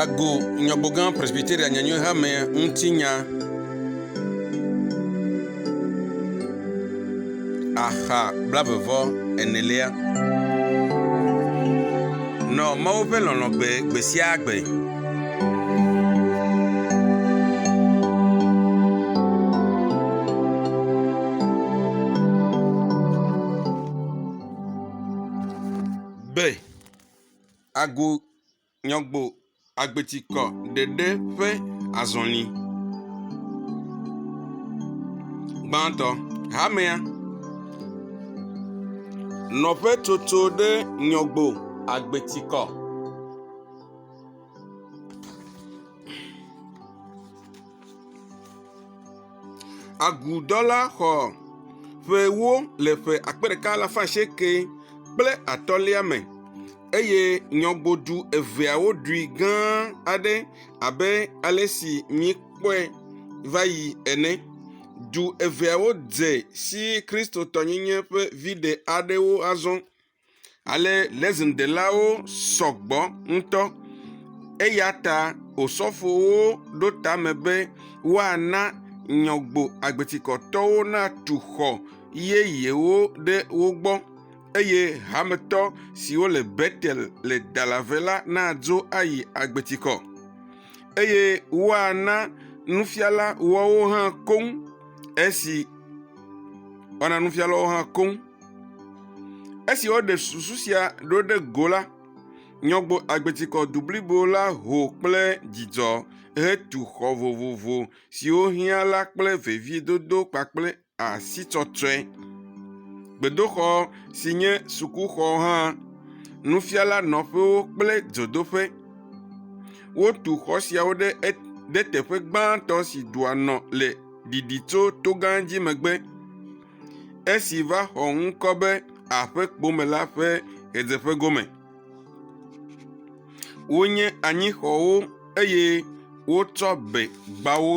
Ago Nyɔgbogã Presbyteria Nyanyui Hame ŋuti nya. Axa blavevɔ enelia. Nɔ Mawu ƒe lɔlɔ̃ gbe gbe sia gbe. Be, Agu nyɔgbo agbetikɔ ɖeɖe ƒe azɔli. Gbãtɔ, hamea nɔƒe tsotso ɖe nyɔgbo agbetikɔ. Agudɔla xɔ ƒe ewo le ƒe akpe ɖeka alafa asieke kple atɔ̃lia me eye nyɔgodu eveawo ɖui gã aɖe abe ale si míekpɔe va yi ene. Du eveawo dze si kristotɔnyenye ƒe viɖe aɖewo azɔ. Ale Lezindelawo sɔ gbɔ ŋutɔ, eya ta osɔfowo ɖo tame be woana nyɔgbo agbetikɔtɔwo natu xɔ yeyewo ɖe wo gbɔ, eye hametɔ siwo le Betel le Dalave la nadzo ayi agbetikɔ, eye woana nufiala woawo hã koŋ esi woana nufiala woawo hã koŋ. Esi woɖe susu sia ɖo ɖe go la, Nyɔgbo Agbetikɔ du blibo la ho kple dzidzɔ hetu xɔ vovovo siwo hiã la kple veviedodo kpakple asitɔtrɔe. Gbedoxɔ si nye sukuxɔ hã, nufiala nɔƒewo kple dzodoƒe. Wotu xɔ siawo ɖe ɖe teƒe gbãtɔ si dua nɔ le ɖiɖi tso togã dzi megbe. Esi va xɔ ŋkɔ be Aƒekpome la ƒe ɣedzeƒe gome. Wonye anyixɔwo eye wotsɔ be gbawo.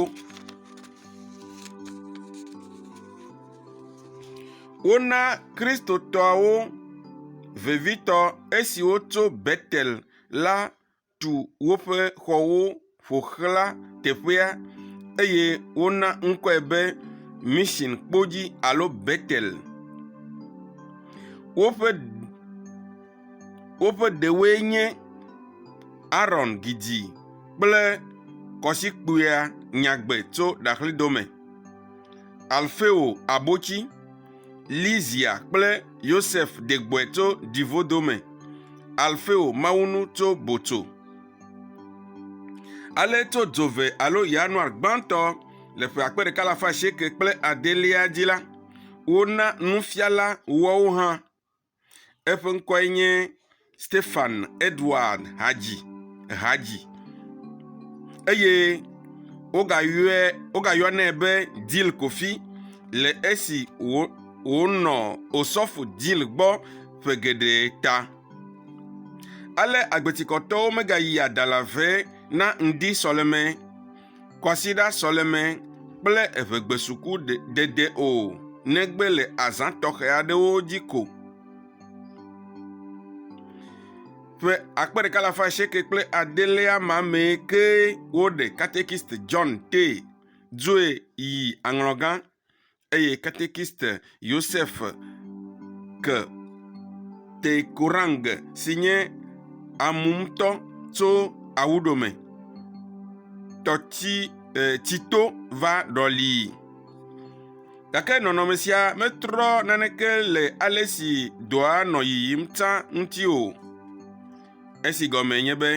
Wona Kristotɔwo vevitɔ esiwo tso Betel la. tu woƒe xɔwo ƒo xlã teƒea, eye wona ŋkɔe be Mission Kpodzi alo Betel. Woƒe woƒe ɖewoe nye Aron Gidzi kple Kɔsikpuia Nyagbe tso Ɖaxlidome, Alfeo Abotsi, Lizia kple Yosef de gbɔe tso ɖivodo me, Alfeo mawunu tso botso. Ale tso dzove alo Yanuar gbãtɔ le ƒe akpe ɖeka alafa asieke kple adelia dzi la, wona nufiala woawo hã Eƒe ŋkɔe nye Stefan Edward Hadzi Hadzi eye wogayɔe wogayɔnɛ be Dil Kofi le esi wò wònɔ Osɔfo Dil gbɔ ƒe geɖe ta. Ale agbetikɔtɔwo megayia dalave na ŋdi sɔleme kwasiɖa sɔleme kple eŋegbesuku dede o, negbe le azã tɔxɛ aɖewo dzi ko. Ƒe akpe ɖeka alafa asieke kple adelea ma mee ke woɖe Katekist John Tee dzoe yi aŋlɔgã eye katekiste Yosef ke Teikurang si nye amumtɔ tso Awuɖome tɔti e, tsito va ɖɔlii. Gake nɔnɔme sia metrɔ naneke le ale si dɔa nɔ yiyim tsã ŋuti o. esi gɔmee nye be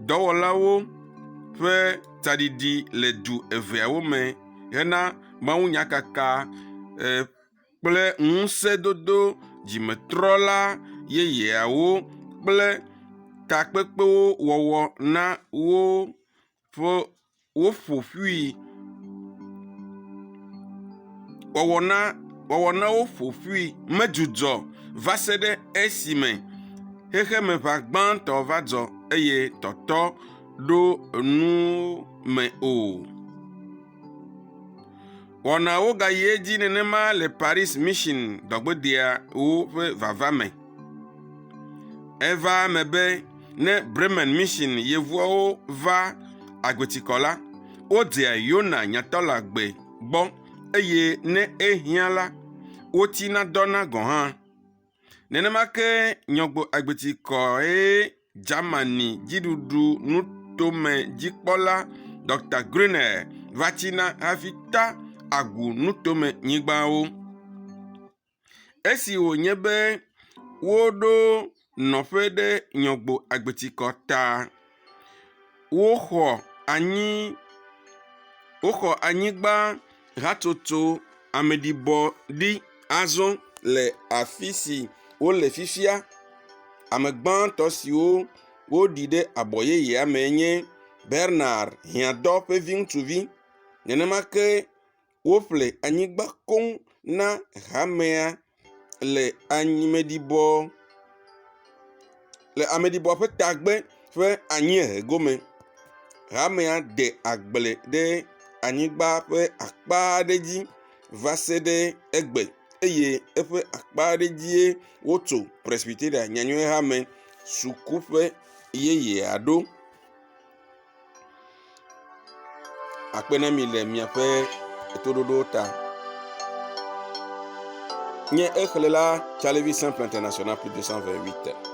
dɔwɔlawo ƒe tsaɖiɖi le du eveawo me hena mawunyakaka kple ŋusẽdodo dzimetrɔla yeyeawo kple takpekpewo wɔwɔ na wo. ƒe woƒo ƒui. Wɔwɔ na wɔwɔ na woƒo ƒui medzudzɔ va se ɖe esime xexemeʋa gbãtɔ va dzɔ eye tɔtɔ ɖo enuwo me o. Wɔnawo gayi edzi nenema le Paris Mission gbɔgbedeawo ƒe vava me. Eva eme be ne Bremen Mission yevuawo va agbetikɔ la, wodzea Yona nyatɔla gbe gbɔ eye ne ehiã la, wotina dɔna gɔ̃ hã. Nenema ke nyɔgbo agbeti kɔe Germany dziɖuɖu nutome dzikpɔla Dr. Grunel va tsina hafi ta agu nutome nyigbawo. Esi wònye be woɖo nɔƒe ɖe nyɔgbo agbetikɔ ta Woxɔ anyi, woxɔ anyigba hatsotso ameɖibɔ ɖi azɔ le afi si wole fifia. Ame gbãtɔ siwo woɖi ɖe abɔ yeyea mee nye Bernard Hiãtɔ ƒe viŋutsuvi. Nenema ke Woƒle anyigba koŋ na hamea le ameɖibɔ le ameɖibɔ ƒe tagbe ƒe anyiehe gome. Hamea de agble ɖe anyigba ƒe akpa aɖe dzi va se ɖe egbe eye eƒe akpa aɖe dzie wotso Presbyteria Nyanyuihamea sukuƒe yeyea ɖo. akpe ɖe mi le miaƒe toɖoɖo ta. Nye exlẽla Tsalevi Simple International plus 228.